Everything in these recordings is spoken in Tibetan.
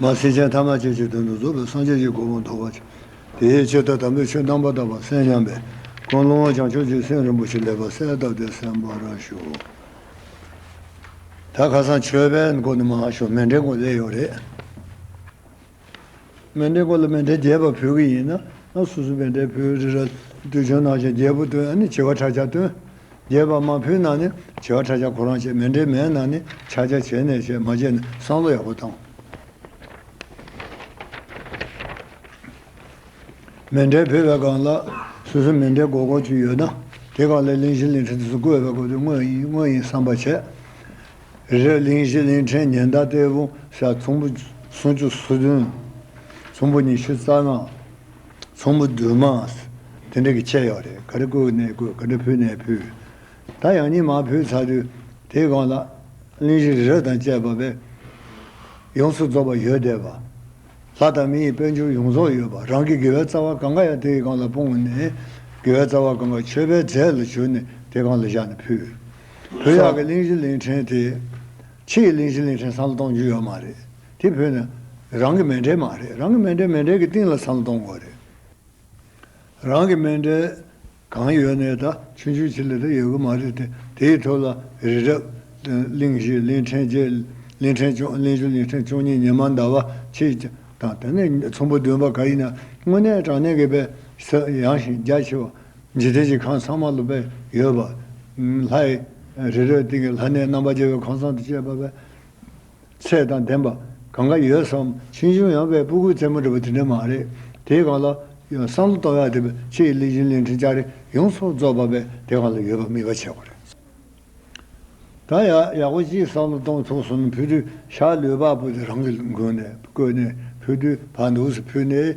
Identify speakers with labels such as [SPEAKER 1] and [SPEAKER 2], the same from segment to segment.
[SPEAKER 1] མར་སེར་ཅན་ཐ་མ་ཅན་གྱི་དོན་དུ་རྫོགས་པའི་སངས་རྒྱས་ཀྱི་སྒོ་མང་རྟོགས་པར་བྱེད། དེའི་ཕྱིར་ད་དམ་པའི་ཆོས་རྣམ་པར་དག་པར་གསན་སྙམ་པས་དཀོན་ལོང་བ་བྱང་ཆུབ་ཀྱི་སེམས་རིན་པོ་ཆེ་ལེགས་པར་གསལ་བཏབ་སྟེ་གསན་པར་ཞུ། ད་ཁ་སང་ཆོས་པའི་མགོ་ནས་མ་ཤོར་མེ་འདྲའི་མགོ་ལས་ཡོད་རེད། མེ་འབྲས་སྐོར་ལ་མེ་འབྲས་རྒྱས་པ་ཕུལ་གི་ཡིན་ན་སོ་སོ་མེ་འབྲས་ཕུལ་རི་ར་ཏུ་བྱོན་ནང་བཞིན་རྒྱས་པོ་བཏོན་ནས་བྱི་བ་ཁྲ་ཆག་བཏོན། རྒྱས་པ་མ་ཕུལ་ན་ནི་བྱི་བ་ཁྲ་ཆག་ཁོ་རང་བྱས་མེ་འབྲས་མེད་ན་ནི་ཕྱག་རྒྱ་བྱས་ནས་བྱས་མ་བྱས་ན་བསང་བློ་ཡག་པོ་བཏང། མེ་འབྲས་ཕུལ་བའི་སྒང་ལ་སོ་སོའི་མེ་འབྲས་སྒོར་སྒོར་གཅིག་ཡོད་ན་དེ་སྒང་ལས་གླིང་བཞི་གླིང་ཕྲན་དུ་སུ་བཀོད་པའི་སྐོར་དུ་དངོས་ཡིན་དངོས་ཡིན་བསམ་པ་བྱས། རི་གླིང་བཞི་གླིང་ཕྲན་ཉི་ཟླ་གཏེར་བུམ་ཤ་ཚོམ་བུ་སུམ་བཅུ་སོ་བདུན། ཚོམ་བུ་ཉི་ཤུ་རྩ་ལྔ། ཚོམ་བུ་བདུན་མ། དེ་འདྲ་གི་ཆད་ཡོད་རེད་ག་རེ་བཀོད་ནས་བཀོད་ག་འདྲ་ཕུལ་ནས་ཕུལ། ད་ཡང་ཉིན་མ་ཕུལ་ཚར་དུས་དེའི་སྒང་ལ། གླིང་བཞི་རི་རབ་དང་བཅས་པ་བས། ཡོངས་སུ་རྫོགས་པ་ཡོད་བསྡད་པ། ལྷ་དང་མི་ཡི་དཔལ་འབྱོར་ཡོངས་རྫོགས་ཡོད་པ་རང་གི་དགེ་བའི་རྩ་བ་གང་ག་ཡང་དེའི་སྒང་ལ་སྤུངས་ནས། དགེ་བའི་རྩ་བ་གང་ག་མཆོད་པའི་རྫས་ལ་གྱུར་ནས་དེ་སྒང་ལ་བཞག་ནས་ཕུལ། བོད་ཡག་གི་གླིང་བཞི་གླིང་ཕྲན་དེ། ཕྱི་ཡི་གླིང་བཞི་གླིང་ཕྲན་བསམ་བློ་གཏོང་རྒྱུ་ཡོད་མ་རེད། དེ་བོད་ནས། རང་གི་མེ་འབྲེལ་མ་རེད། རང་གི་མེ་འབྲེལ་མེ་འབྲེལ་གྱི་སྟེང་ལ་བསམ་བློ་གཏོང་དགོས་རེད། རང་གི་མེ་འབྲེལ། གང་ཡོད་ནས་ད་ཆུན་ཆུན་ཆི་ལི་ལི་ཡོད་གི་མ་རེད་དེ། དེའི་ཐོག་ལ་རི་རབ། གླིང་བཞི་གླིང་ཕྲན་བརྒྱད། གླིང་ཕྲན་བཅུ་གླིང་བཅུ་གླིང་ཕྲན་བཅུ་གཉིས་ཉི་མ་ཟླ་བ་ཕྱེད། དང་དེ་ནས་ཚོམ་བུ་བདུན་པ་ག་ཡིན་ན་དངོས་གནས་དྲང་གནས་ཀྱི་བས་ས་ཡངས་ཤིང་རྒྱ་ཆེ་བ། རྗེ་བདེ་སྐྱིད་ཁང་ཚང་མ་ལོ་པས་ཡོད་པ། ལྷའི། རི་རོའི་སྟེང་གི་ལྷ་གནས་རྣམ་པར་རྒྱལ་བའི་ཁང་ཚང་དུ་བཅས་པ། པའི། ཚད་དང་ལྡན་པ། གང་ག་ཡོད་བསམ། ཕྱིས་འབྱུང་ཡང་པའི་སྤུ་གུའི་རྩེ་མོ་འདྲ་བ་དེ་འདྲ་མ་རེད། དེའི་གང་ལ། བསམ་བློ་གཏོང་ཡག་དེ་པའི་ཕྱི་ཡི་གླིང་བཞིན་གླིང་ཕྲན་ལྕགས་རི་ཡོངས་རྫོགས་རྫོགས་པ་པའི་དེ་གང་ལ་ཡོད་པ་མིན་པ་ཆེ་བ་རེད་བསམ། ད་ཡག་ཡག་པོ་གཅིག་བསམ་བློ་གཏོང་ཐུབ་སོང་ན་ཕུ་དུད་ཤར་ལུས་པགས་པོ་དེ་རང་གི་མགོ་ནས་བརྐོས་ནས་ཕུ་དུད་བར་འདུག་སུ་ཕུད་ནས།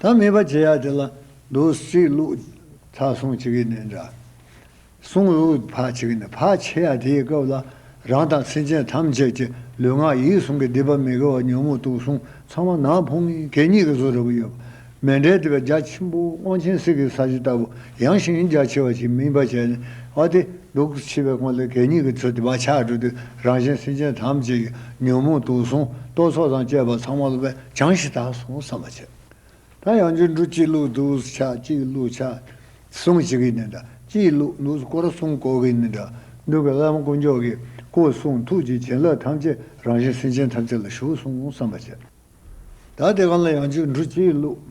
[SPEAKER 1] ད་མིན་པ་བྱེད་ཡག་དེ་ལ་འདུག་སྲིད་ལུགས་ཚགས་སྲུང་བྱེད་གི་ནས་འདྲ་སྲུང་ལུགས་ཕ་བྱེད་གི་ནས་ཕ་བྱེད་ཡག་དེའི་སྐབས་ལ་རང་དང་སེམས་ཅན་ཐམས་ཅད་ཀྱི་ལུས་ངག་ཡིད་གསུམ་གི་བདེ་བ་མི་དགེ་བ་ཉོན་མོངས་དུག་གསུམ་ཚང་མ་ནང་ཕུང་ངེ་གེ་གཉིས་ཀྱི་བཟོ་རུ་ཡོད་པ་མེད་འདྲའི་བདེ་བའི་རྒྱ་ཆེན་པོ་དབང་ཆེན་གསེར་གྱི་ས་གཞི་ལྟ་བུ་ཡངས་ཤིང་རྒྱ་ཆེ་བ་ཞིག་སྨིན་པ་བྱས་ནས་ཨ་ཏི་འདུག་འཆི་བའི་གོང་ལ་གེ་གཉིས་ཀྱི་ཚུལ་དུ་བག་ཆགས་བསྒྲུབས་ཏེ་རང་གཞན་སེམས་ཅན་ཐམས་ཅད་ཀྱི་ཉོན་མོངས་དུག་གསུམ་རྟོག་ཚོགས་དང་བཅས་པ་ཚང་མ་ལ་བས། བྱང་ཞེས་དག་གསུངས་བསམ་པ་བྱ། ད་ཡང་རྒྱུད་འབྲུ་གཅིག་ལུགས་འདུག་ཆ་གཅིག་ལུགས་ཆ་གསུམ་གཅིག་གིས་ནི་འདྲ་གཅིག་ལུགས་འདུག་སྐོར་གསུམ་སྐོར་གིས་ནི་འདྲ་འདུག་གི་བླ་མ་དཀོན་མཆོག་གིས་སྐུ་གསུང་ཐུགས་ཀྱི་བྱིན་རླབས་ཐམས་ཅད་རང་བཞིན་སེམས་ཅན་ཐམས་ཅད་ལ་ཞུགས་གསུངས་བསམ་པ་བྱ། ད་དེ་གང་ལ་ཡང་རྒྱུད་འབྲུ་གཅིག་ལུགས།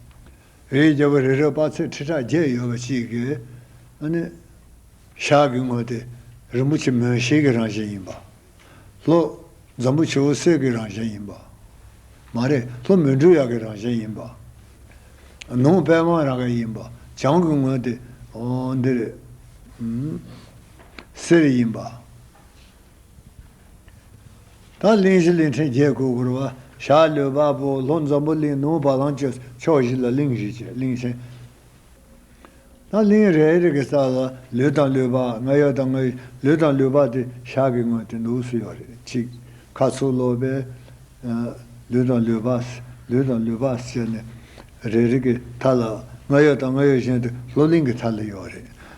[SPEAKER 1] རིའི་རྒྱལ་པོ་རི་རབ་དཔག་ཚད་ཁྲི་ཕྲག་བརྒྱད་ཡོད་པ་ཅིག་གི། ཤག་གི་ངོས་དེ་རིན་པོ་ཆེ་མོན་ཤེལ་གྱི་རང་བཞིན་ཡིན་པ། ལྷོ། འཛམ་བུ་ཆུ་བོ་གསེར་གྱི་རང་བཞིན་ཡིན་པ། མ་རེད་ལྷོ་མོན་འབྲུ་གཡག་གི་རང་བཞིན་ཡིན་པ། ནུབ་དཔལ་དབང་རང་གི་ཡིན་པ། བྱང་གི་ངོས་དེ། འདི་རེད། གསེར་ཡིན་པ། དང་གླིང་བཞི་གླིང་ཕྲན་བརྒྱད་གོས་བསྐོར་བ། ཞག་ལོའི་དཔའ་བོ་ལྷོ་འཛམ་བུ་གླིང་ནུབ་བ་ལང་སྤྱོད་ཕྱོགས་བཞི་ལ་གླིང་བཞི་བཅས་གླིང་ཆེན། དང་གླིང་རེ་རེ་གི་རྩ་ལ་ལུས་དང་ལུས་པགས་ལྔ་ཡོད་དང་ལྔ་ལུས་དང་ལུས་པགས་དེ་ཞག་གི་སྔོན་དེ་ནུབ་སུ་ཡོད་རེད་གཅིག། ཁ་ཚུགས་ལོ་པའི། ལུས་དང་ལུས་པགས། ལུས་དང་ལུས་པགས་བཅས་ནི། རེ་རེ་གི་མཐའ་ལ་ལྔ་ཡོད་དང་ལྔ་ཡོད་གཞན་དུ་ལྷོ་གླིང་གི་མཐའ་ལ་ཡོད་རེད།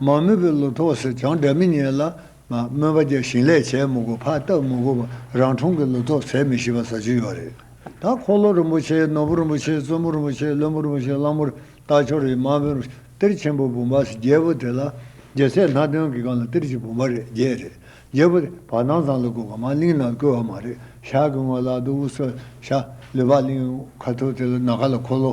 [SPEAKER 2] མ་རྨོས་པའི་ལོ་ཐོག་སེར་བྱང་དགྲ་མི་ཉེ་ལ།
[SPEAKER 1] རྨོས་པ་བརྒྱ་ཞིང་ལས་བྱས་མི་དགོས་ཕ་བཏགས་མི་དགོས་པར་རང་འཁྲུངས་ཀྱི་ལོ་ཐོག་ཟད་མི་ཤེས་པ་ཟ་བྱུས་ཡོད་རེད། ད་འཁོར་ལོ་རིན་པོ་ཆེ་ནོར་བུ་རིན་པོ་ཆེ་བཙུན་མོ་རིན་པོ་ཆེ་བློན་པོ་རིན་པོ་ཆེ་གླང་པོ་རི་སྟག་ཆོ་རི་མ་བོན་རི་གཏེར་ཆེན་པོ་བུམ་པ་སི་རྒྱལ་པོ་དེ་ལ་རྒྱལ་སྲས་སྣ་བདུན་གྱི་སྒང་ལ་གཏེར་གྱི་བུམ་པ་རེ་བརྒྱད་རེ་རྒྱས་པོ་དེ་བར་སྣང་ཚང་ལ་བཀོད་པ་མ་གླིང་ན་བཀོད་པ་མ་རེད་ཤག་གི་སྔོན་ལ་དུ་བུ་སོལ་ཤ་ལུས་པ་གླིང་ཁ་ཐུབ་དེ་ལ་ནཱ་ག་ལ་འཁོར་ལོ་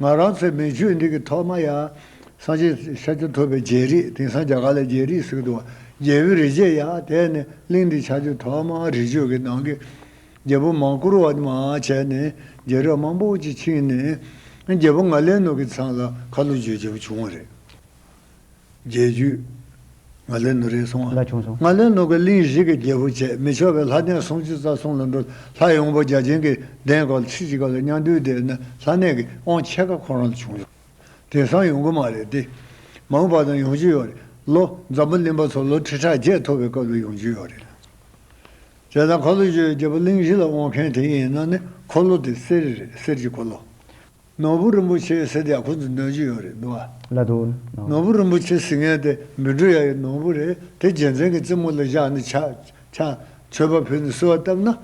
[SPEAKER 1] ང་རང་ཚེ་མེད་ཆོས་འདི་གི་ཐོག་མ་ཡ། སངས་རྒྱས་ཤཱ་ཀྱ་ཐུབ་པའི་རྒྱལ་རིགས་དེང་སང་རྒྱ་གར་ལ་རྒྱལ་རིགས་ཟེར་གི་འདུག་བ། རྒྱལ་བོའི་རིགས་རྗེས་ཡ་དེས་ནི་གླིང་འདི་ཆགས་རྒྱུ་ཐོག་མ་རི་ཆོས་ཀྱི་ནང་གི། རྒྱལ་པོ་མང་བཀུར་བ་མ་བྱས་ནས་རྒྱལ་རབས་མང་པོ་ཅིག་ཕྱིན་ནས། རྒྱལ་པོ་ང་ལས་ནོ་གི་ཚང་ལ་ཁ་ལོ་བརྗོད་བྱེད་པོ་བྱུང་བ་རེད། རྒྱས་བརྒྱུད། ང་ལས་ནུ་རིན་སྲུང། ལ་བྱུང་སོང། ང་ལས་ནུ་གི་གླིང་བཞི་གི་རྒྱལ་པོ་བྱས་མི་ཆོག་པའི་ལྷ་གདན་སྲུང་བཅུ་རྩ་གསུམ་ལ་འགྲོ་ལྷ་ཡོངས་པོ་བརྒྱ་བྱིན་གྱི་གདན་སྐོར་ལ་ཁྲི་གཅིག་པ་ལ་སྙ་འདུལ་དེ་ན་ལྷ་གནས་ཀྱི་དབང་ཆེ་ཁ་ཁོ་རང་ལ་བྱུང་སོང། དེང་སང་ཡོང་གི་མ་རེད་དེ། མང་བ་དང་ཡོང་རྒྱུ་ཡོད་རེད། ལོ་འཛམ་བུ་གླིང་པ་ཚོ་ལོ་ཁྲི་ཕྲག་བརྒྱད་ཐོབ་པའི་སྐབས་ལ་ཡོང་རྒྱུ་ཡོད་རེད། དེ་ལ་འཁོར་ལོ་བརྒྱུད་རྒྱལ་པོ་གླིང་བཞི་ལ་དབང་མཁན་དེ་ཡིན་ན་ནི་འཁོར་ལོ་དེ་གསེར་རེད་གསེར་གྱི་འཁོར་ལོ། ནོར་བུ་རིན་པོ་ཆེ་ཡི་སེར་རྒྱག་ཁོ་ཚོ་འདོན་གྱི་ཡོད་རེད་འདུག་བ། ལ་དུ་ནོ། ནོར་
[SPEAKER 2] བུ་རིན་པོ་ཆེ་
[SPEAKER 1] ཟིང་ངན་དེ་མི་འགྲོ་ཡ་ཡི་ནོར་བུ་རེད་དེ་རྒྱལ་མཚན་གྱི་རྩེ་མོ་ལ་བཞག་ནས་ཆ། ཆ། མཆོད་པ་ཕུལ་ནས་གསོལ་བ་བཏབ་ན།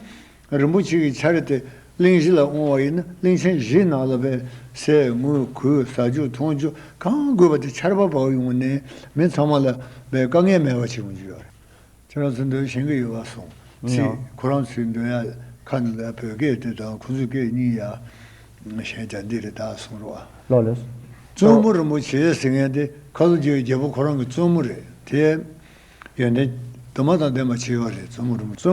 [SPEAKER 1] རིན་པོ་ཆེ་གི་ཆར་དེ་གླིང་བཞི་ལ་འོང་བ་ཡིན་ན་གླིང་ཆེན་བཞིའི་ནང་ལ་བལ། སེ། དངུལ། གུས། ཟ་རྒྱུ། འཐུང་རྒྱུ། གང་དགོས་པ་དེ་ཆར་པ་བབས་ཡོང་ནས་མི་ཚང་མ་ལ་བལ་དཀའ་ངལ་མེད་པ་བྱེད་ཡོང་རྒྱུ་ཡོད་རེད། ཁྱེད་རང་ཚོ་འདོད་ཞེན་གི་ཡོད་བ་སོང་ཚིག་ཁོ་རང་ཚོའི་འདོད་ཡ་ཁ་ནི་ལ་བོད་སྐད་དེ་དང་ཁོང་ཚོའི་སྐད་གཉིས་ཡ་གཞན་ཇ་འདི་རེད་ད་སོང་རོགས་ཨ། ལོ་ལོ། བཙུན་
[SPEAKER 2] མོ་རིན་པོ་
[SPEAKER 1] ཆེ་ཟེར་མཁན་དེ་ཁ་ལོ་སྒྱོའི་རྒྱལ་པོ་ཁོ་རང་གི་བཙུན་མོ་རེད་དེ། ཡོན་ཏན་དུ་མ་དང་ལྡན་པ་ཆེ་བ་རེད་བཙུན་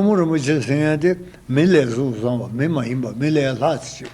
[SPEAKER 1] མོ་རིན་པོ་ཆེ་ཟེར་མཁན་དེ་མི་ལས་གཟུགས་བཟང་བ་མི་མ་ཡིན་པ་མི་ལས་ལྷ་ཚེ་ཆེ་བ།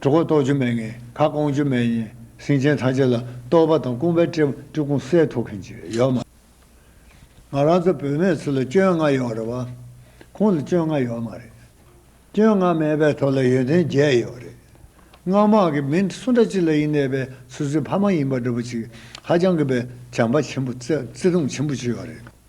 [SPEAKER 1] གྲོགས་ཁོག་རྟོགས་རྒྱུ་མེད་ངན་ཁ་སྐོང་རྒྱུ་མེད་ཡིན་སེང་ཆེན་ཐམས་ཅད་ལ་རྟོགས་པ་དང་དཀོན་པའི་སྤྲེའུ་སྤྲུལ་སྐུང་གསལ་ཐོབ་མཁན་ཅིག་ཡོད་མ་ང་རང་ཚོ་བོད་མའི་ཚུལ་ལ་སྐྱོན་ལྔ་ཡོད་རེད་བ། ཁོང་ལ་སྐྱོན་ལྔ་ཡོད་མ་རེད། སྐྱོན་ལྔ་མེད་པའི་ཐོག་ལ་ཡོན་ཏན་བརྒྱད་ཡོད་རེད། སྔགས་མང་གི་མི་སུ་འདྲ་ཅི་ལ་ཡིན་ནད་པའི་ཚུལ་ཚོད་ཕ་མ་ཡིན་པ་འདྲ་པོ་ཅིག་ཧ་ཅང་གི་བས་བྱམས་པ་ཆེན་པོ་བརྩེ་བརྩེ་དུང་ཆེན་པོ་ཅིག་ཡོད་རེད།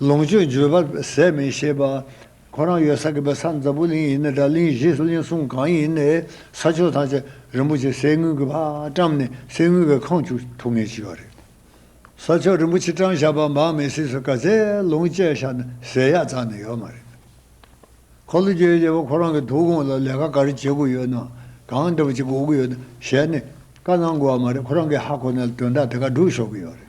[SPEAKER 1] ལོངས་སྤྱོད་འཇུ་བར་ཟད་མི་ཤེས་པ། ཁོ་རང་ཡོད་ས་གི་བོད་ས་འཛམ་བུ་གླིང་ཡིན་ན་འདྲ་གླིང་བཞི་སུ་གླིང་གསུམ་གང་ཡིན་ནས་ས་ཕྱོགས་ཐམས་ཅད་རིན་པོ་ཆེ་གསེར་དངུལ་གྱིས་ཕ་བཀྲམ་ནས་གསེར་དངུལ་བའི་ཁང་བཅུག་ཐུགས་ངལ་ཅི་བ་རེད། ས་ཕྱོགས་རིན་པོ་ཆེ་བཀྲམ་བཞག་པ་འབངས་མི་སེར་སུ་ག་ཚད་ལོངས་སྤྱད་བཞག་ན་ཟས་ཡག་ཙག་ནི་ཡོད་མ་རེད། ཁོ་ལོ་རྒྱལ་བྱེད་པ་ཁོ་རང་གི་དུག་ཁོང་ལ་ལས་ཀ་ག་རེ་བྱེད་དགོས་ཡོད་ན་གང་འདྲ་བ་ཅིག་དགོས་ཀྱི་ཡོད་ན་ཞལ་ནས་བཀའ་གནང་དགོས་བ་མ་རེད་ཁོ་རང་གི་ཧ་གོ་ན་དོན་དག་དེ་ག་སྒྲུབ་ཤོག་གི་ཡོད་རེད།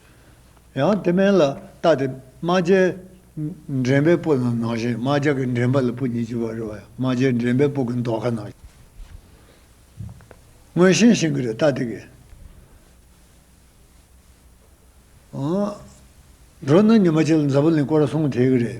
[SPEAKER 1] ཡང་དེ་མན་ལ་བཏགས་ཏེ་རྨ་བྱའི། འདྲེན་པའི་སྤུ་རྣམས་ནང་བཞིན་རྨ་བྱ་གི་འདྲེན་པ་ལ་སྤུ་ཉིས་བཅུ་བ་རེ་བ་ཡང་རྨ་བྱའི་འདྲེན་པའི་སྤུ་གི་མདོག་ཁ་ནང། སྔོན་ཤིང་ཤིང་གི་རེ་བཏགས་ཏེ་གི། འགྲོ་ན་ཉི་མ་བྱི་ལ་འཛམ་བུ་གླིང་བསྐོར་སོང་དེའི་གི་རེ།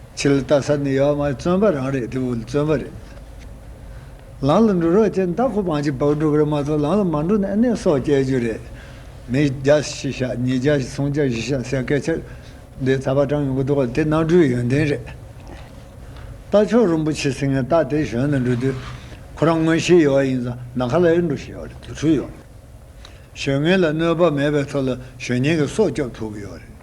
[SPEAKER 1] ཕྱི་ལ་ལྟ་ས་ནི་ཡོད་མ་བརྩོན་པ་རང་རེད་དེ་བོད་བརྩོན་པ་རེད། ལམ་ལ་འགྲོ་རོགས་ཅེས་མདའ་ཁོ་པང་གཅིག་བག་འགྲོ་གི་རེད་མ་གཏོགས་ལམ་ལ་མ་འགྲོ་ན་ཨེ་གནས་སོགས་སྐྱལ་རྒྱུ་རེད། མི་བརྒྱ་ཤི་ཤ་ཉིས་བརྒྱ་ཤི་སུམ་བརྒྱ་ཤི་ཤ་ཟེར་སྐད་ཆ་འདི་ཚ་བ་གྲང་ཡོང་གི་འདུག་དེ་གནའ་གྲུའི་ཡོན་ཏན་རེད། རྟ་མཆོག་རིན་པོ་ཆེ་སིང་ངེ་རྟ་དེ་གཞོན་ནས་འགྲོ་དུས་ཁོ་རང་དངོས་གཞིའི་ཡོ་བ་ཡིན་ཙང་ནམ་མཁའ་ལ་ཨེ་འགྲོ་ཞེས་ཡོ་བ་རེད་དུག་འཕྲུལ་ཡོ་བ་རེད། གཞོན་ངན་ལ་གནོད་པ་མེད་པའི་ཐོག་ལ་གཞོན་ཉན་གྱི་སྲོག་སྐྱོབ་ཐུབ་ཀྱི་ཡོ་བ་རེད།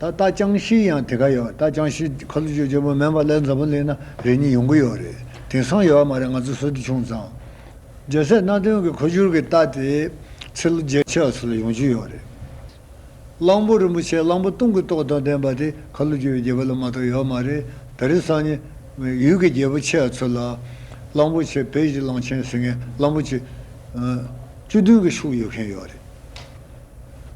[SPEAKER 1] ད་ལྟ་ཅང་ཤིས་ཡང་དེ་ག་ཡོད་ད་ཅང་ཤིས་ཁ་ལོ་ཅོ་ཅོ་པོ་མེན་པ་ལས་མཛའ་པོ་ལེན་ན་རེ་གཉིས་ཡོང་གི་ཡོད་རེད་དེང་སང་ཡོད་མ་རེད་ང་ཚོ་སོད་དུ་ཆུང་ཙང་རྒྱལ་སྲས་སྣ་བདུན་གི་ཁོ་ཅུར་གི་ལྟ་དེ་ཚེ་ལོ་བརྒྱད་ཆའོ་སོ་ལ་ཡོང་གྱི་ཡོད་རེད་གླང་པོ་རིན་པོ་ཆེ་གླང་པོ་སྟོང་གི་ཏོག་དང་ལྡན་པ་དེ་ཁ་ལོ་ཅོ་ཡི་རྒྱལ་པོ་ལ་མ་གཏོགས་ཡོད་མ་རེད་ད་རེས་སང་ཉིན་ཡུལ་གི་རྒྱལ་པོ་ཆའོ་ཚོ་ལ་གླང་པོ་ཆེ་བེ་ཞི་གླང་ཆེན་ཟེར་མཁན་གླང་
[SPEAKER 2] པོ་ཆེ་བཅུ་བདུན་གི་ཤུགས་ཡོད་མཁན་ཡོད་རེད།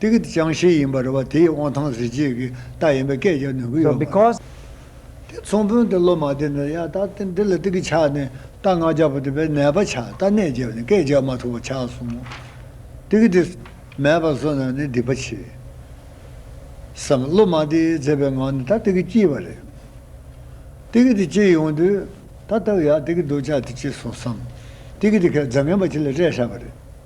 [SPEAKER 1] ཏིག་གི་ཅང་ཤེས་
[SPEAKER 2] ཡིན་པར་རེ་བ་དེ་ཡི་དབང་ཐང་གཟི་བརྗིད་ཀྱི་རྟགས་ཡིན་པའི་སྐད་རྒྱག་ནུས་ཀྱི་ཡོད་པ་རེད། དེ་མཚུངས་བོན་དེ་སློབ་མ་དེ་འདྲ་ཡང་དག་སྟེ་འདི་ལ་ཏིག་གི་ཕྱག་ནས་རྟ་རྔ་རྒྱག་པ་དེ་བས་ནད་པ་ཕྱག་རྟ་ནད་བརྒྱབ་ནས་སྐད་རྒྱག་མ་ཐུབ་པ་ཆགས་སོང་ངོ། ཏིག་གི་དེ་མེད་པར་བཟོ་ན་ནི་སྡིག་པ་ཆེ། བསམ། སློབ་མ་དེས་མཛེས་པའི་ངང་ནས་ད་ཏིག་གི་སྐྱིད་པ་རེད། ཏིག་གི་དེ་སྐྱིད་ཡོང་དུས། ད་སྟག་ཡག་ཏིག་གི་འདུག་ཅག་དེ་སྐྱིད་སོང་བསམ། ཏིག་གི་དེ་ཁས་བརྫ་ངན་པ་ཁྱི་ལ་སྤྲད་ཧྲལ་བ་རེད།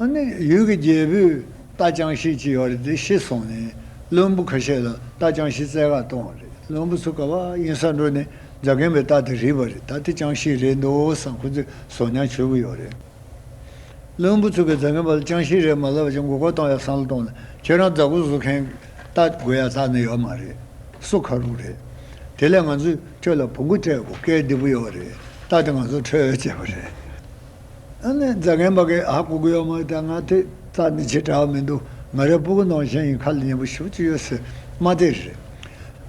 [SPEAKER 1] ཡུལ་གྱི་རྒྱལ་པོས་རྟ་ཅང་ཤེས་ཅི་ཡོད་རེད་དེ་ཤེས་སོང་ནས་བློན་པོ་ཁ་ཤས་ལ་རྟ་ཅང་ཤེས་རྩལ་ཁ་གཏོང་བ་རེད་བློན་པོ་ཚོ་ག་བ་ཡིན་ས་འགྲོ་ནས་རྫ་གན་པའི་རྟ་དེ་རིག་པ་རེད་ད་དེ་ཅང་ཤེས་རེད་འདོད་བསམ་ཁོ་ཚོས་ཟོག་རྙང་བྱོས་ཀྱི་ཡོད་རེད། བློན་པོ་ཚོ་གིས་རྫ་གན་པ་ལ་ཅང་ཤེས་རེད་མ་ལབ་བར་ཅང་མགོ་སྐོར་གཏོང་ཡག་བསམ་བློ་གཏོང་ན་ཁྱེད་རང་རྫ་གོ་བཟོ་མཁན་རྟ་དགོས་ཡག་རྟ་ནི་ཡོད་མ་རེད་གསོ་ཁ་རུག་རེད་དེ་ལས་ང་ཚོས་ཁྱོད་ལ་བུ་མགོ་སྤྲད་དགོས་སྐལ་བདེ་པོ་ཡོད་རེད་རྟ་དེ་ང་ཚོར་འཕྲོད་ཡོད་ཅེས་པ་རེད། ཨ་ནི་རྫ་རྒན་པ་ཀའི་ཨ་ཀོ་གོ་ཡག་མོ་ཡོད་ད་ང་དེ་རྩ་ནི་ཆེ་གྲགས་མི་འདུག་ང་རའི་སྤུ་གུ་ནང་བཞིན་ཡིན་ཁ་ལ་ཉན་པོ་ཞུགས་ཀྱི་ཡོད་སྲིད་མ་དེ་རེད།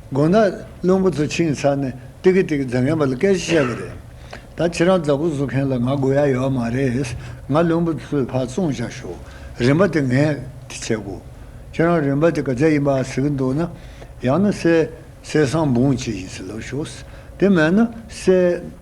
[SPEAKER 1] དགོང་ན་བླུན་པོ་ཚོ་ཕྱིན་ཚར་ནས་ཏིག་གི་ཏིག་གི་རྫ་རྒན་པ་ལ་སྐད་ཆ་བཤད་པ་རེད། ད་ཁྱེད་རང་རྫ་ཀོ་བཟོ་མཁན་ལ་ང་དགོས་ཡ་ཡོད་མ་རེད། ང་བླུན་པོ་ཚོའི་ཕར་བཙོང་བྱ་ཞོག་རིན་པ་དེ་ངས་དེ་བྱེད་དགོས། ཁྱེད་རང་རིན་པ་དེ་ག་ཚད་ཡིན་པ་ཟེར་གི་འདུག་ན་ཡང་ན་གསལ་གསལ་
[SPEAKER 2] སང་འབུངས་བྱེད་བཞིན་ཚུར་ལོག་ཞོག་དེ་མེད་ན་གསལ།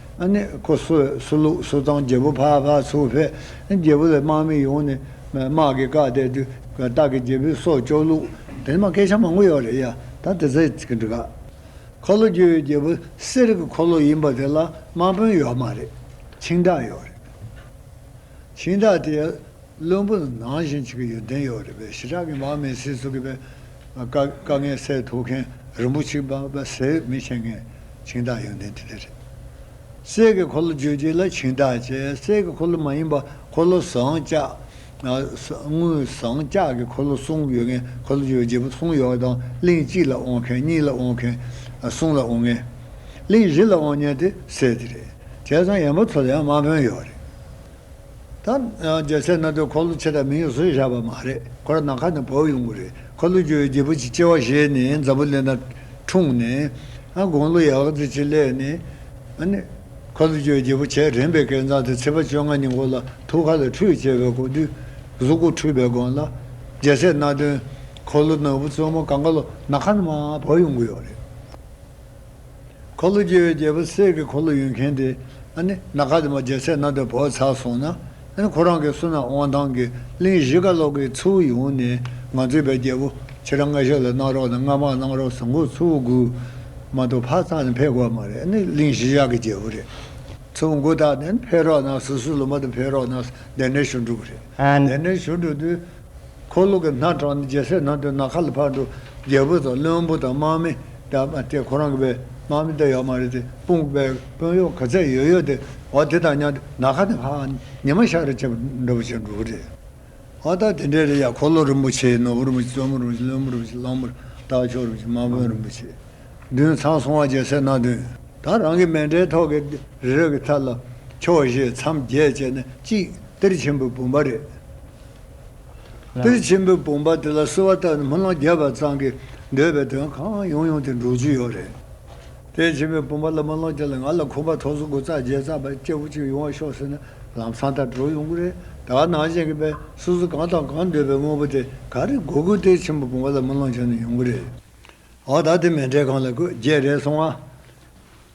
[SPEAKER 2] ཨ་ནི་ཁོ་གསོད་གསོད་བླུག་གསོད་བཏང་རྒྱལ་པོ་ཕག་ཕག་ཚུགས་ཕེ། རྒྱལ་པོ་ལས་དམག་མི་ཡོང་ནས་དམག་
[SPEAKER 1] གི་བཀའ་གཏད་དུས་བདག་གི་རྒྱལ་པོའི་སྲོག་སྐྱོག་བླུག། དེ་ནི་མ་སྐད་ཆ་མང་པོ་ཡོད་རེད་ཡ་ད་དེ་ཚེ་གི་འདི་ག། འཁོར་ལོ་རྒྱུ་བའི་རྒྱལ་པོ་གསེར་གི་འཁོར་ལོ་ཡིན་པ་དེ་ལ་དམག་དཔོན་ཡོད་མ་རེད། འཆིང་བདག་ཡོད་རེད། ཁྱིམ་བདག་དེས་བློན་པོ་ལ་ནང་བཞིན་བྱེད་ཀྱི་ཡོད་བདེན་ཡོད་རེད་པས་ཞི་དྲག་གིས་མར་མེ་སྲིད་གཙོ་གི་པའི་དཀའ་ངལ་སེལ་ཐུབ་མཁན་རིན་པོ་ཆེ་པ་པ་ཟེར་མི་བྱེད་མཁན་ཁྱིམ་བདག་ཡོན་བདེན་དེ་དེ་རེད། སྲས་ཀྱི་འཁོར་ལོ་བརྗོད་རྗེས་ལ་ཁྱིམ་བདག་ཅེས་སྲས་ཀྱི་འཁོར་ལོ་མ་ཡིན་པ་འཁོར་ལོ་ཟངས་ལྕགས། དངུལ་ཟངས་ལྕགས་ཀྱི་འཁོར་ལོ་གསུམ་ཡོད་མཁན་འཁོར་ལོ་བརྗོད་རྗེས་པ་གསུམ་ཡོད་པ་དང་གླིང་གཅིག་ལ་དབང་མཁན་གཉིས་ལ་དབང་མཁན་གསུམ་ལ་དབང་ངེས། གླིང་བཞི་ལ་དབང་ཉན་དེ་སྲས་དེ་རེད། བྱས་ཙང་ཡན་པོ་ཚོ་ལ་ཡང་དམག་དཔོན་ཡོད་རེད། ད་རྒྱལ་སྲས་སྣ་སྡོད་འཁོར་ལོ་ཆེ་དང་མིང་ཡང་བཟོས་བཞག་པ་མ་རེད་ཁོ་རང་ནམ་མཁའ་ནས་བབས་ཡོང་གི་རེད་འཁོར་ལོ་རྒྱུ་བའི་རྒྱལ་པོ་ཆེ་སྐྱེ་བ་བཞེས་ནས་མཛའ་བོ་ལེ་ན་འཁྲུངས་ནས་དགུང་ལོ་ཡག་རྫི་ཆེ་སླེ་ནས་འཁོར་ལོ་རྒྱུ་བའི་རྒྱལ་པོ་ཆེ་རེངས་པའི་སྐལ་བཟང་དེ་ཚེས་པ་བཅོ་ལྔ་ཉིན་གོ་ལ་ཐུ་ཁ་ལ་ཁྲུས་བྱེད་པའི་གོ་དུས་གཟུགས་སྐུ་འཁྲུས་པའི་དགོངས་ལ་རྒྱལ་སྲས་སྣ་སྡོད་འཁོར་ལོ་ནོར་བུ་བཙུན་མོ་གངྒཱ་ལོ་ནག་ཁ་ནས་མ་བབས་ཡོང་གི་ཡོད་རེད། འཁོར་ལོ་བསྐྱེད་པའི་རྒྱལ་པོ་སྲས་ཀྱི་འཁོར་ལོ་ཡོད་མཁན་དེ། ནཱ་ག་དེ་མ་རྒྱལ་སྲས་ནཱ་དའི་བུ་ཚར་སོང་ན། ཁོ་རང་གི་བསོད་ནམས་དབང་ཐང་གིས་གླིང་བཞི་ཀ་ལོག་གི་ཚུལ་བུ་ཡོང་ནས་ང་བཙུན་པའི་རྒྱལ་པོ་ཁྱེད་རང་སྔ་ཞབས་ལ་གནང་རོགས་དང་སྔ་མར་གནང་རོགས་ཟེར་མགོ་ཚུལ་བུ་སྒུར། མ་གཏོགས་ཕར་བཏང་ནས་འཕེལ་དགོས་པ་མ་རེད་གླིང་བཞི་བཞག་གི་རྒྱལ་པོ་རེད། ཚུལ་བུ་མགོ་བཏགས་ནས་འཕེལ་རོགས་གནང་སུ་སུ་ལུ་མ་དུ་འཕེལ་རོགས་གནང་སྡེ་སྣོད་ཞུ་འགྲུབ་རེད། སྡེ་སྣོད་ཞུ་འགྲུབ་དུས། འཁོར་ལོ་གྱི་སྣ་དྲངས་ནས་རྒྱལ་སྲས་ནང་དུ་ནགས་ཁ་ལ་ཕར་འགྲོ། རྒྱལ་པོ་དང་བློན་པོ་དང་དམག་མི། དེ་ཁོ་རང་གི་བའི་དམག་མི་དེ་ཡོད་མ་རེད་དེ། དཔུང་བའི་དཔོན་གཡོག་ག་ཚད་ཡོད་ཡོད་དེ། འོ་དེ་དང་མཉམ་དུ་ནགས་ཁ་ནས་ཧ་ཧ་ཉི་མ་ཤར་རེ་བྱེད་པར་འགྲོ་བར་བྱེད་འགྲོ་གི་རེད། ཨོ་ད་དེ་འདྲས་རེད་ཡ་འཁོར་ལོ་རིན་པོ་ཆེའི་ནོར་བུ་རིན་པོ་ཆེ་བཙུན་མོ་རིན་པོ་ཆེ་བློན་པོ་རིན་པོ་ཆེ་གླང་པོ་སྟག་མཆོག་རིན་པོ་ཆེ་དམག་དཔོན་རིན་པོ་ཆེ། བདུན་ཚང་སོང་བ་རྒྱལ་སྲས་སྣ་བདུན། ད་རང་གི་མལ་འདྲའི་ཐོག་གི་རི་རབ་ཀྱི་མཐའ་ལ། ཕྱོགས་བཞི་མཚམས་བརྒྱད་བཅས་ན་ཅིག་གཏེར་ཆེན་པོའི་བུམ་པ་རེད། པིར་ཆེན་པོའི་བུམ་པ་དེ་ལ་གསོལ་བ་བཏབ་ནས་མི་ལོ་བརྒྱད་པ་ཙམ་གྱི་འདོད་པའི་དོན་གང་ཡོང་ཡོང་དེ་འགྲོ་རྒྱུ་ཡོད་རེད། པིར་ཆེན་པོའི་བུམ་པ་ལ་མི་ལོ་བརྒྱད་ལ་ང་ལ་ཁོམ་པ་ཐོག་གཟུགས་སྐུ་རྩ་བརྒྱད་རྩ་བརྒྱད་སྐྱེ་བོ་གཅིག་ཡོང་བ་ཤོག་ཟེར་ན་ལམ་སང་ལྟར་འགྲོ་ཡོང་གི་རེད་དྭགས་ནང་བཞིན་གྱི་པས་སོ་སོ་གང་དང་གང་འདོད་པའི་དངོས་པོ་དེ་ག་རེ་དགོས་དགོས་པིར་ཆེན་པོའི་བུམ་པ་ལ་མི་ལོ་བྱས་ནས་ཡོང་གི་རེད། འོ་ད་དེ་མེ་འབྲས་གང་ལ་དགོས་བརྒྱད་རེད་སོང་ང།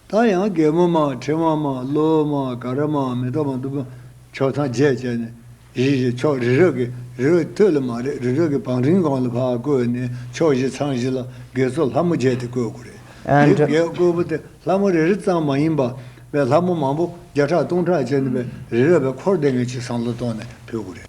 [SPEAKER 1] ད་ཡང་རྒན་མོ་མ་ཁྲི་མ་མ་ལོ་མ་ག་ར་མ་མེ་ཏོག་མ་དུ་བ་ཕྱོགས་ཐང་བརྒྱད་བཅད་ནས་གཞིས་བཞི་ཕྱོགས་རི་རབ་ཀྱི་རི་བོ་སྟོད་ལ་མ་རེད་རི་རབ་ཀྱི་བང་རིམ་གང་ལ་བག་བསྐོས་ནས་ཕྱོགས་བཞི་ཚང་བཞི་ལ་དགེ་ཚོ་ལྷ་མོ་བརྒྱད་དེ་བསྐོས་དགོས་རེད་དེ་བརྒྱད་བསྐོས་པོ་དེ་ལྷ་མོ་རེ་རེ་ཙམ་མ་ཡིན་པ་བས་ལྷ་མོ་མང་པོ་བརྒྱ་ཕྲག་སྟོང་ཕྲག་བཅད་ནས་པའི་རི་རབ་པའི་འཁོར་འདེད་ངེས་ཅི་བསམ་བློ་གཏོང་ནས་ཕུལ་དགོས་རེད།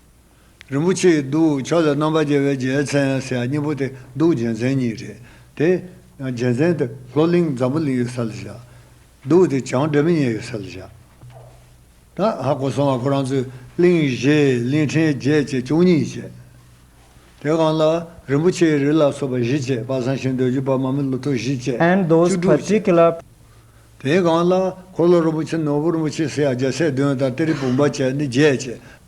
[SPEAKER 1] རིན་པོ་ཆེའི་གདུགས་ཕྱག་ལས་རྣམ་པར་རྒྱལ་བའི་རྒྱལ་མཚན་ཡང་སྲས་གཉིས་པོ་དེ་གདུགས་རྒྱལ་མཚན་གཉིས་རེད་དེ། རྒྱལ་མཚན་དེ་ལྷོ་གླིང་འཛམ་བུ་གླིང་ཡོད་ས་ལ་བཞག། གདུགས་དེ་བྱང་སྒྲོལ་མི་ཉལ་ཡོད་ས་ལ་བཞག། ད་ཧ་གོ་སོང་ང་ཁོ་རང་ཚོས་གླིང་བཞི་གླིང་ཕྲན་བརྒྱད་བཅས་བཅུ་གཉིས་བཅས། དེ་གང་ལ་རིན་པོ་ཆེའི་རི་ལ་སོགས་པ་བཞི་བཅས་པ་བཟང་ཞིང་འདོད་རྒྱུ་པ་མ་མི་ལོ་ཏོག་བཞི་བཅས་བཅུ་དྲུག་
[SPEAKER 2] བཅས། དེ་གང་
[SPEAKER 1] ལ་འཁོར་ལོ་རིན་པོ་ཆེ་ནོར་བུ་རིན་པོ་ཆེ་སྲས་བརྒྱད་སྲས་བདུན་དང་གཏེར་བུམ་པ་བཅས་ནི་བརྒྱད་བཅས།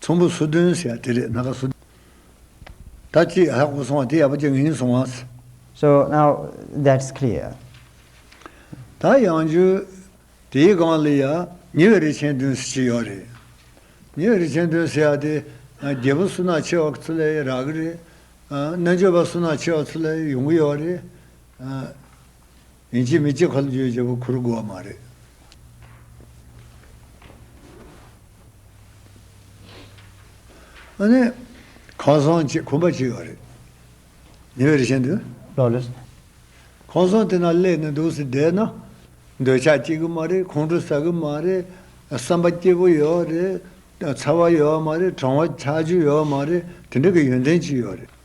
[SPEAKER 1] ཚོམ་བུ་སོ་བདུན་ཟེར་བ་དེ་རེད་སྣ་ཁ་སོ་བདུན། ད་ཅི་ཧ་གོ་སོང་བ་དེ་ཡག་པོ་ཅི་ངེས་སོང་ངས། So now
[SPEAKER 2] that's clear.
[SPEAKER 1] ད་ཡང་བརྗོད། དེའི་སྒང་ལ་ཡ། ཉེ་བའི་རི་ཆེན་བདུན་ཟེར་གྱི་ཡོད་རེད། ཉེ་བའི་རི་ཆེན་བདུན་ཟེར་བ་དེ། རྒྱལ་པོ་སུ་ནག་ཆེ་བ་ཚོ་ལས་རག་གི་རེད། རྣལ་འབྱོར་པ་སུ་ནག་ཆེ་བ་ཚོ་ལས་ཡོང་གི་ཡོད་རེད། ཡིན་གཅིག་མི་གཅིག་ཁ་ལོ་བརྗོད་བྱེད་པོ་ཁུར་དགོས་བ་མ་རེད། ཨ་ནི། ཁང་བཟང་ཅེས་ཁུམ་པ་གཅིག་ཡོད་རེད། ཉེ་བའི་རི་ཆེན་དུ། ལོ་ལོས།
[SPEAKER 2] ཁང་བཟང་དེ་ན་གླས་
[SPEAKER 1] ནས་འདུག་ཟེར་བསྡད་ན། འདོད་ཆགས་སྐྱེ་གི་མ་རེད་ཁོང་ཁྲོ་ཟ་གི་མ་རེད། བསམ་པ་སྐྱིད་པོ་ཡོད་བ་རེད། ཚ་བ་ཡོད་བ་མ་རེད་གྲང་བ་ཆགས་རྒྱུ་ཡོད་བ་མ་རེད་དེ་འདྲ་གི་ཡོན་ཏན་གཅིག་ཡོད་རེད།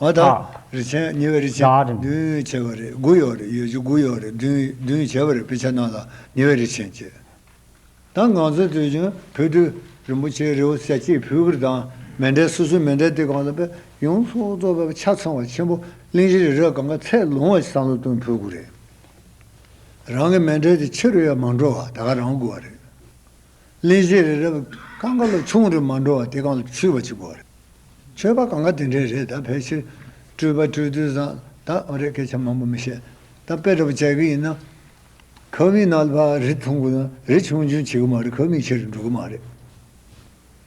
[SPEAKER 2] ལ།
[SPEAKER 1] རི་ཆེན་ཉེ་བའི་རི་ཆེན་བདུན་བྱས་པ་
[SPEAKER 2] རེད་དགུ་
[SPEAKER 1] ཡོད་རེད་ཡོད་ཅུ་དགུ་ཡོད་རེད་བདུན་བྱས་པ་རེད་དཔེ་ཆ་རྣམས་ལ་ཉེ་བའི་རི་ཆེན་བཅས་དང་ང་ཚོའི་དུས་བྱུང་བོད་དུ་རིན་པོ་ཆེའི་རི་བོ་སེ་སྐྱེས་བུ་གུར་དང་མེ་འབྲས་སོ་སོའི་མེ་འབྲས་ཏེ་གང་ལ་དཔེ་ཡོངས་རྫོགས་རྫོགས་པའི་ཆ་ཚང་བ་ཆེན་པོ་གླིང་བཞི་རི་རབ་གངྒཱ་ཚད་ལོངས་བ་བསམ་བློ་གཏོང་ཕོད་དགོས་རེད། རང་གི་མེ་འབྲས་དེ་ཕྱི་རུ་ཡང་མ་འགྲོ་བར་ད་ག་རང་དགོས་བ་རེད། གླིང་བཞི་རི་རབ་གང་ག་ལ་ཆུང་རི་མ་འགྲོ་བ་དེ་གང་ལ་ཆུད་པ་གཅིག་པོ་རེད། ཆོས་པ་གང་ག་དེ་འདྲའི་རེད་ད་ཕལ་ཆེར་སྤྲུལ་པ་སྤྲུལ་དུས་བཟང་ད་འོ་རེད་སྐད་ཆ་མང་པོ་མི་བཤད་ད་དཔེ་སྒྲོ་བཅད་གི་ཡིན་ན། ཁབ་མིག་ནལ་བ་རི་ཐུང་གི་ན་རི་ཆུང་ཆུང་བྱེད་གི་མ་རེད་ཁབ་མིག་ཆེ་རུ་འགྲོ་གི་མ་རེད།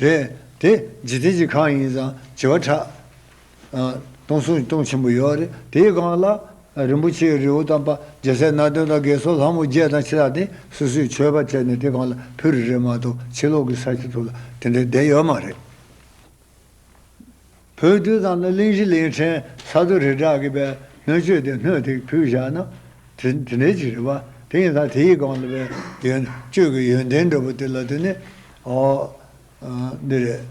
[SPEAKER 1] རེད་དེ། འཇིག་རྟེན་གྱི་གང་ཡིན་ཙང་བྱེ་བ་ཕྲག། སྟོང་གསུམ་སྟོང་ཆེན་པོ་ཡོད་རེད་དེའི་སྒང་ལ། རིན་པོ་ཆེའི་རི་བོ་དང་པརྒྱ་ཟས་སྣ་བདུན་དང་གས་སོགས་ལྷ་མོ་བརྒྱད་དང་ཕྱི་ལག་སྟེང་སོ་སོའི་མཆོད་པ་བྱས་ནས་དེ་སྒང་ལ་ཕུ་རི་རེད་མ་གཏོགས་ཕྱི་ལོག་གི་ས་ཆ་དུ་ལ་དེ་འདྲའི་བསྡད་ཡོད་མ་རེད། བོད་བསྟོད་ཙམ་ལ་གླིང་བཞི་གླིང་ཕྲན་ས་རྡོ་རི་བྲག་གི་པའི་སྣོད་བཅོས་ཏེ་སྣོད་ཐིག་ཕུལ་བཞག་ན། དེ་དེ་འདྲའི་ཅིག་རེད་པ་དེ་ཡིན་ཙང་དེ་ཡི་སྒང་ལ་པའི་ཡོན་བཅོས་ཀྱི་ཡོན་ཏན་འགྲོ་པོ་དེ་ལ་དུ་ནི། ཨོ། འདི་རེད།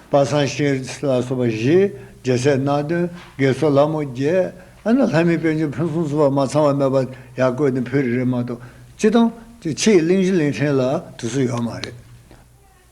[SPEAKER 1] པ་སངས་ཤིང་ལ་སོགས་པ་བཞི། རྒྱལ་སྲས་སྣ་བདུན་དགེ་ཚོགས་ལྷ་མོ་བརྒྱད། ཨ་ན་ལྷ་མིའི་དཔལ་འབྱོར་ཕུན་སུམ་ཚོགས་པ་མ་ཚང་བ་མེད་པ་ཡག་བཀོད་ནས་ཕུལ་རེ་རེ་མ་གཏོགས་ཅི་དང་ཅི་ཕྱིའི་གླིང་བཞི་གླིང་ཕྲན་ལ་དུས་སུ་ཡོད་མ་རེད།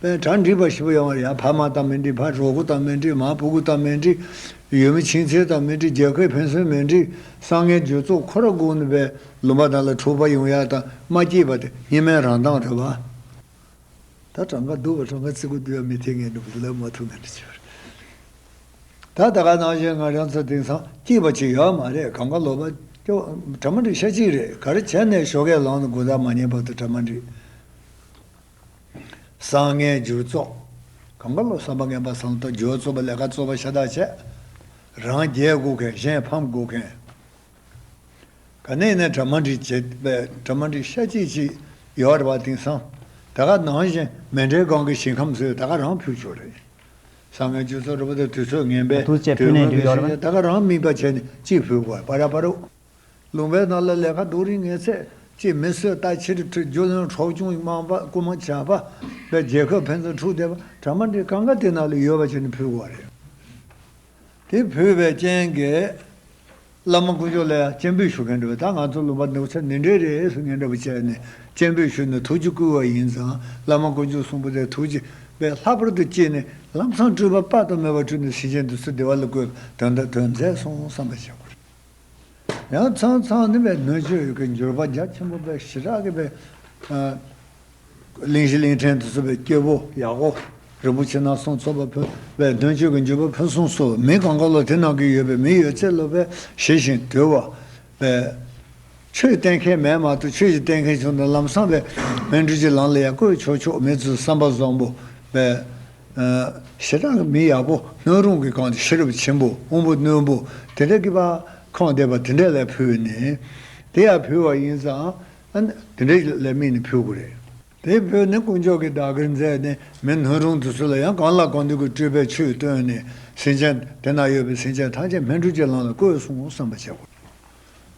[SPEAKER 1] པའི་གྲ་འགྲིག་པ་ཞིག་པོ་ཡང་བར་ཡང་བར་མ་དང་མི་འགྲིག་བར་གྲོགས་པོ་དང་མི་འགྲིག་མར་བུ་གུ་དང་མི་འགྲིག། ཡུལ་མི་ཕྱིན་ཆད་དང་མི་འགྲིག་རྒྱལ་ཁའི་ཕན་སོན་མི་འགྲིག་སང་ངེ་འགྱུར་ཚོགས་འཁོར་ར་གུག་ནི་པའི་ལུང་པ་དང་ལ་འཁྲུག་པ་ཡུང་ཡག་དང་མ་སྐྱིད་པ་དེ་གཉིས་མའི་རང་མདངས་རེད་བ། ད་གྲངས་ཀ་སྡུག་བ་གྲངས་ཀ་ཚིག་གུ་སྡུག་ཡ་མི་ཐེ་ངེ་འདུག་བུ་ལབ་མ་ཐུབ་ངེ་འདུག་བྱས་པ་རེད། ད་ད་ག་ནང་བཞིན་ང་རང་ཚོ་དེང་སང་སྐྱིད་པ་ཅིག་ཡོད་མ་རེད་གམ་ག་ལོ་པ། གྲ་མ་འགྲིག་ཤ་གཅིག་རེད་ག་རེ་བྱས་ནས་ཞོགས་ཀའི་ལང་ནི་དགུ་ཟླ་མ་ཉེ་བར་དུ་གྲ་མ་འགྲིག། བསང་བརྔན་བསྒྱུར་བཙོག། གང་གཱ་ལོ་བསམ་པ་བརྔན་པ་བསང་གཏོར་སྦྱོར་བཙོག་པ་ལས་ཀ་བཙོག་པ་ཤ་སྟག་བྱས། རང་རྒྱལ་བསྒུག་མཁན་གཞན་ཕམ་བསྒུག་མཁན། ག་ནས་ནས་གྲ་མ་འགྲིག་བྱེད་པས་གྲ་མ་འགྲིག་ཤ་གཅིག་གཅིག་ཡོ་ར་བ་དིང་སང་ད་ག་ནང་བཞིན་མེ་འདྲའི་སྒང་གི་ཞིང་ཁམས་སུ་ད་ག་རང་ཕུད་ཆོག་རེད། བསང་བརྔན་བསྒྱུར་བཙོག་ར་བ་དེ་དུས་ཚོད་ངན་པས་དུས་སྔོན་གྱི་ཞིང་ཆ་ད་ག་རང་རྨིས་པ་བྱས་ནས་གཅིག་ཕུད་དགོས་པ་ར་པ་རུ། ལུང་པའི་ནང་ལ་ལས་ཁ་དོག་རིགས་ངན་ཚད་ཅིག་མི་གསོད་རྟ་ཕྱིར་ཁྲིད་རྒྱུ་བློན་གྲོགས་ཆུང་དམངས་པ་རྐུ་མ་བྱ་བ་བས་རྒྱལ་ཁབ་ཕན་ཚུན་འཁྲུག་བསྡད་པ་གྲ་མ་འགྲིག་གང་ག་དེ་ནང་ལ་ཡོད་པ་ཅན་དུ་ཕུལ་བ་རེད། དེ་ཕུལ་བའི་རྐྱེན་གྱིས་བླ་མ་དཀོན་མཆོག་ལ་ཡང་སྤྱན་འབུལ་ཞུ་མཁན་འགྲོ་བས་ད་ང་ཚོ་ལུང་པ་འདུག་ཚད་ནི་འདྲེ་རེད་ཟེར་ངན་འདྲ་པོ་བྱས་ནས་སྤྱན་འབུལ་ཞུས་ནས་ཐུགས་རྗེ་བསྐུལ་བ་ཡིན་ཙང་བླ་མ་དཀོན་མཆོག་གསུང་པོ་ཏའི་ཐུགས་རྗེ་བས་ལྷག་པར་དུ་སྐྱིད་ནས་ལམ་སང་སྤྲུལ་པ་དཔག་ཏུ་མེད་པ་སྤྲུལ་ནས་ཟིན་བྱེད་འདི་ཚོ་བདེ་བ་ལ་བཀོད་པའི་དོན་དང་དོན་མཛད་སོང་བསམ་པ་བྱེད་དགོས། ཡང་ཚང་ཚང་ནི་བའི་སྣོད་བཅུད་ཀྱི་འགྱུར་བ་རྒྱ་ཆེན་པོ་པའི་ཞི་དྲག་གི་བའི། གླིང་བཞི་གླིང་ཕྲན་དུ་གསོ་བའི་སྐྱེ་བོ་ཡག་པོ་རིན་པོ་ཆེ་ནགས་སྲང་ཚོ་པ་ཕུལ་བའི་སྣོད་བཅུད་ཀྱི་འགྱུར་བ་ཕུན་སུམ་ཚོགས་མི་གང་ག་ལོ་དེ་ནང་གི་ཡོད་པའི་མི་ཡོད་ཚད་སློབ་པའི་ཞི་ཞིང་དུལ་བ་བའི། ཆོས་བསྟན་མཁན་མེད་མ་གཏོགས་ཆོས་ཀྱི་བསྟན་མཁན་བྱུང་དང་ལམ་སངས་པའི་སྨན་སྤྲུལ་གྱི་ལམ་ལ་ཡང་བཀོད་ཆོག་ཆོག་མེད་ཚུལ་བསམ་པ་བཟང་པོ་བས། ཞེ་སྡང་གི་མི་ཡག་པོ་སྣོད་རུང་གི་གང་དེ་ཤེས་རབ་ཆེན་པོ་དབང་པོ་རྣོན་པོ་དེ་འདྲ་གི་བ་ཁང་འདེབས་པ་དེ་འདྲ་ལས་ཕུལ་བས་ནི། དེ་ཡང་ཕུལ་བ་ཡིན་ཙང། དེ་འདྲ་ལས་དམིགས་ནས་ཕུལ་དགོས་རེད། དེའི་བོད་ནི་དཀོན་མཆོག་གི་བདག་གིར་མཛད་ནས་མི་སྣོད་རུང་དུ་སུ་ལ་ཡང་གང་ལ་གང་འདོད་ཀྱི་སྤྲུལ་པའི་ཆོས་སྟོན་ནས་ཟིན་ཅན་དེ་ན་ཡོད་པའི་ཟིན་ཅན་ཐམས་ཅད་སྨན་སྤྲུལ་གྱི་ལམ་ལ་བཀོད་སོང་བསམ་པ་བྱེད་དགོས།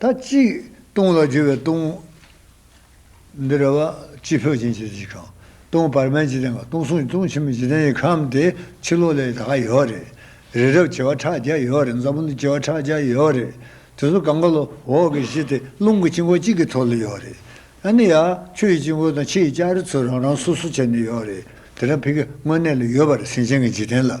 [SPEAKER 2] ད་ཅིག་སྟོང་ལ་རྒྱུ་བའི་སྟོང། འདི་ར་བ་སྤྱི་འཕོས་ཅན་གྱི་གཞི་གང།
[SPEAKER 1] སྟོང་བར་མའི་འཇིག་རྟེན་གང་སྟོང་གསུམ་གྱི་སྟོང་ཆེན་པོའི་འཇིག་རྟེན་གྱི་ཁམས་དེ་ཕྱི་ལོགས་ལས་དག་ཡོད་རེད། རི་རབ་བྱེ་བ་ཕྲག་བརྒྱ་ཡོད་རེད་མཛའ་བོ་འདི་བྱེ་བ་ཕྲག་བརྒྱ་ཡོད་རེད། དེ་ཚོ་གང་ག་ལ་འོག་གི་གཞི་དེ་རླུང་གི་དཀྱིལ་འཁོར་གཅིག་གི་ཐོག་ལ་ཡོད་རེད། ཨ་ནི་ཡ། ཆུ་ཡི་དཀྱིལ་འཁོར་དང་ཕྱི་ཡི་ལྕགས་རི་
[SPEAKER 2] ཚོ་རང་རང་སོ་སོ་བྱས་ནས་ཡོད་རེད། དེ་རང་ཕི་གི་དངོས་གནས་ལ་ཡོད་པར་སེམས་ཅན་གྱི་འཇིག་རྟེན་ལ།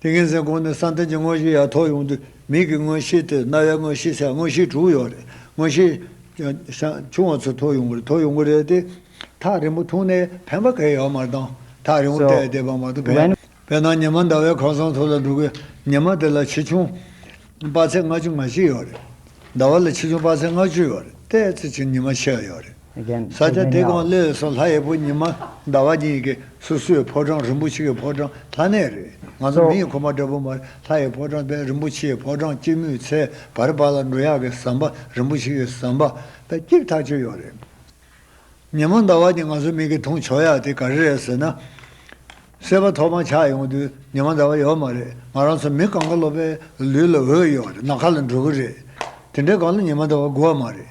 [SPEAKER 2] ཏིང་ངེ་འཛིན་གོང་ནས་བསམ་གཏན་གྱི་དངོས་གཞི་ཡ་ཐོག་ཡོང་དུས་མིག་གི་དངོས་གཞི་སྟེ་རྣ་བའི་དངོས་གཞི་ཟེར་དངོས་གཞི་དྲུག་ཡོད་རེད། དངོས་གཞི།
[SPEAKER 1] ཆུང་བ་ཚོ་ཐོག་ཡོང་གི་རེད་ཐོག་ཡོང་གི་རེད་དེ། ཐག་རིང་པོ་འཐུང་ནས་ཕན་པ་གས་ཡག་མར་བཏང་ཐག་རིང་བོ་བལྟས་བལྟས་པ་མ་ཐུབ་བས། བལྟས་ན་ཉི་མ་ཟླ་བའི་ཁང་བཟང་ཐོག་ལ་འདུག་གི་ཉི་མ་དེ་ལ་ཆེ་ཆུང། དཔག་ཚད་ལྔ་
[SPEAKER 2] བཅུ་ང་གཅིག་ཡོད་རེད། ཟླ་བ་ལ་ཆེ་ཆུང་དཔག་ཚད་ལྔ་བཅུ་ཡོད་རེད་བལྟས་ཚེ་ཆུང་ཉི་མ་ཕྱེད་ཡོད་རེད། ས་སྐྱ་སྡེ་དགོན་བློས་བཟོ་
[SPEAKER 1] ལྷ་
[SPEAKER 2] ཡེ་
[SPEAKER 1] པོ་
[SPEAKER 2] ཉི་མ་ཟླ་བ་གཉིས་ཀྱི་སོ་སོའི་ཕོ་བྲང་རིན་པོ་ཆེ་གི་ཕོ་བྲང་ལྷ་གནས་རེད་ང་ཚོ་མི་ཡི་ཁོ་པ་འདྲ་པོ་མ་རེད་ལྷ་ཡི་ཕོ་བྲང་དཔལ་རིན་
[SPEAKER 1] པོ་ཆེའི་ཕོ་བྲང་སྐྱིད་མོའི་ཚལ་བར་པ་ལ་འགྲོ་ཡག་གི་ཟམ་པ་རིན་པོ་ཆེ་གི་ཟམ་པ་དཔལ་སྐྱིད་ཐག་ཆོད་ཡོད་རེད་ཉི་མ་ཟླ་བ་གཉིས་ང་ཚོ་མི་གི་འཐུང་ཆོག་ཡག་དེ་ག་རེ་རེད་ཟེར་ན། སེར་བ་ཐོག་མ་ཆགས་ཡོང་དུས་ཉི་མ་ཟླ་བ་ཡོད་མ་རེད་ང་རང་ཚོ་མི་གང་ག་ལོ་པའི་ལུས་ལ་འོད་ཡོད་རེད་ནག་ཁ་ལ་འགྲོ་གི་རེད་དེ་འདྲའི་སྒང་ལ་ཉི་མ་ཟླ་བ་དགོས་མ་རེད།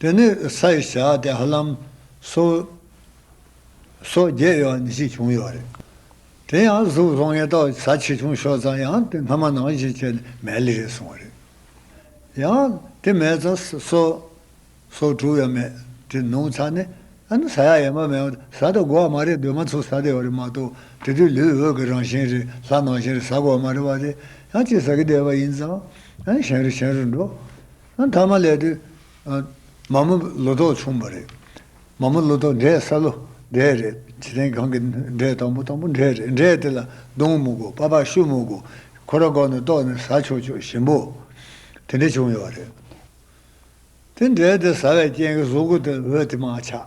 [SPEAKER 1] དེ་ནས་ས་ཡི་བྱ་དེ་ཧ་ལམ་སོ་སོ་བརྒྱད་ཡོད་ནི་ཅིག་བྱུང་ཡོད་རེད། དེ་ཡང་གཟུགས་བཟང་ངན་ཏོག་ས་ཆེ་ཆུང་ཤོར་ཙང་ཡང་དེ་སྔ་མ་ནང་བཞིན་བྱས་ནས་མལ་ལི་རེད་སོང་བ་རེད། ཡང་དེ་མེད་ཙང་སོ་སོ་དྲུག་ཡོད་མེད་དེ་ནོངས་ཚར་ནས་ཨ་ནི་ས་ཡག་ཡེ་མ་མེད་ས་དེ་དགོ་བ་མ་རེད་འདོད་མ་ཚུགས་ས་དེ་ཡོད་རེད་མ་གཏོགས་དེ་དུས་ལུས་འོད་ཀྱི་རང་བཞིན་རེད་ལྷ་ནང་བཞིན་རེད་ས་དགོ་བ་མ་རེད་བ་དེ་ཡང་སྤྱི་ཟ་གི་བསྡད་པ་ཡིན་ཙང་ཨ་ནི་གཞན་རེ་གཞན་རེར་འགྲོ། མཐའ་མ་ལས་དུས་མ་མོ་ལོ་ཏོག་ཕྱུངས་པ་རེད། མ་མོ་ལོ་ཏོག་འབྲས་སཱ་ལུ་འབྲས་རེད། བྱེ་ཐེངས་གང་གི་འབྲས་དང་པོ་དང་པོ་འབྲས་རེད། འབྲས་དེ་ལ་སྡོང་མུག་གོ་པ་པ་ཤུ་མུག་གོ། ཁོ་ར་གོ་ནི་ཏོག་ནི་ཟ་ཆོག་ཆོག་ཞིམ་པོ། དེ་འདྲས་བྱུང་ཡོད་རེད། དེ་འབྲས་དེ་ཟ་བའི་རྐྱེན་གྱིས་གཟུགས་སྐུ་དེ་འོད་དེ་མ་ཆགས།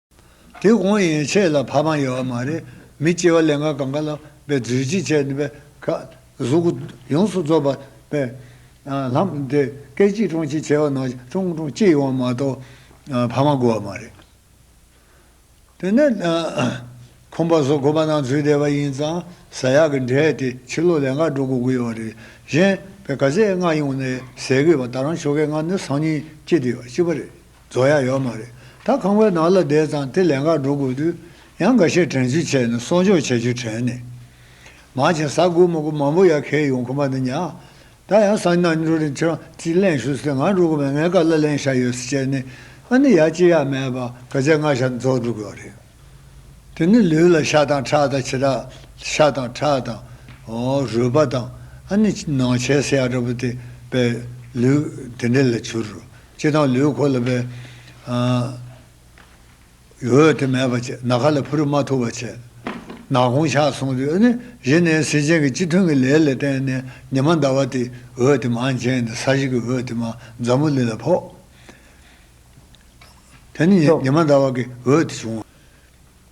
[SPEAKER 1] དེ་གོང་ཡན་ཆད་ལ་ཕ་མ་ཡོད་བ་མ་རེད་མི་སྐྱེ་བ་ལན་ག་གང་ག་ལ་བའི་རྫུས་ཅི་བྱས་ནི་བའི་ཁ་གཟུགས་སྐུ་ཡོངས་སུ་རྫོགས་པ་པའི་ལྷམ་དེ་སྐད་གཅིག་ཀྲོང་གཅིག་བྱས་བ་ན་ཀྲོང་ཀྲོང་གཅིག་ཡོང་བ་མ་གཏོགས་ཕ་མ་དགོས་བ་མ་རེད། དེ་ནས་ཁོམ་པ་བཟོ་དགོས་པ་ནང་འཛུལ་བསྡད་པ་ཡིན་ཙང་ཟ་ཡག་གི་འབྲས་དེ་ཕྱི་ལོ་ལན་ག་འགྲོ་དགོས་ཀྱི་ཡོད་བ་རེད་གཞན་བའི་ག་ཟས་ལྔ་ཡོང་ནས་ཟས་གོས་བ་ད་རང་ཆོ་གའི་ལྔ་ནི་སང་ཉིན་སྐྱེ་དེ་ཡོད་གཅིག་པ་རེད། རྫོགས་ཡ་ཡོད་མ་རེད་ད་ཁང་བའི་ནང་ལ་བསྡད་ཙང་དེ་ལས་འགའ་འགྲོ་དགོས་དུས་ཡང་འགའ་ཤས་དྲན་རྒྱུ་བྱས་ནས་གསོག་འཇོག་བྱ་རྒྱུ་དྲན་ནས་མང་ཆེ་ས་དགུ་མོ་དགུ་མང་པོ་ཡར་ཁེལ་ཡོང་ཁོམ་པ་འདི་ཉག་ད་ཡང་སང་ཉིན་ན་འགྲོ་རིན་ཁྱེར་ཅིག་གླེང་ཞུ་ཟེར་ང་འགྲོ་དགོས་པའི་ངའི་ཀ་ལ་གླེང་ཞག་ཡོད་ཟེར་བྱས་ནས་ཨ་ནི་ཡར་ཅི་ཡག་མེད་པར་ག་ཚད་སྔ་ཞག་རྫོགས་འགྲོ་དགོས་རེད་དེ་ནི་ལུས་ལ་ཤ་དང་ཁྲག་དང་བྱེ་བྲག་ཤ་དང་ཁྲག་དང་རུས་པ་དང་ཨ་ནི་ནང་ཆས་སེ་ཡ་འདྲ་པོ་དེ་པའི་ལུས་དེ་འདྲེ་ལ་བྱུར་ལྕེ་དང་ལུས་གོ་ལ་པའི། འོད་དེ་མེད་པར་བྱེད། ནཱ་ག་ལ་ཕུ་རུ་མ་ཐུབ་པར་བྱེད། ནག་གོང་ཕྱག་བཟུང་དུས་ནི། བཞི་ནས་གཟི་ཅན་གྱི་སྤྱི་ཐུན་གྱི་ལས་ལ་བརྟེན་ནས་ཉི་མ་ཟླ་བ་སྟེ་འོད་དེ་མ་འབྱིན་ནས་ས་གཞི་གི་འོད་དེ་མ་འཛམ་བུ་ལི་ལ་ཕོག། དེ་ནི་ཉི་མ་ཟླ་བ་གི་འོད་དེ་བྱུང།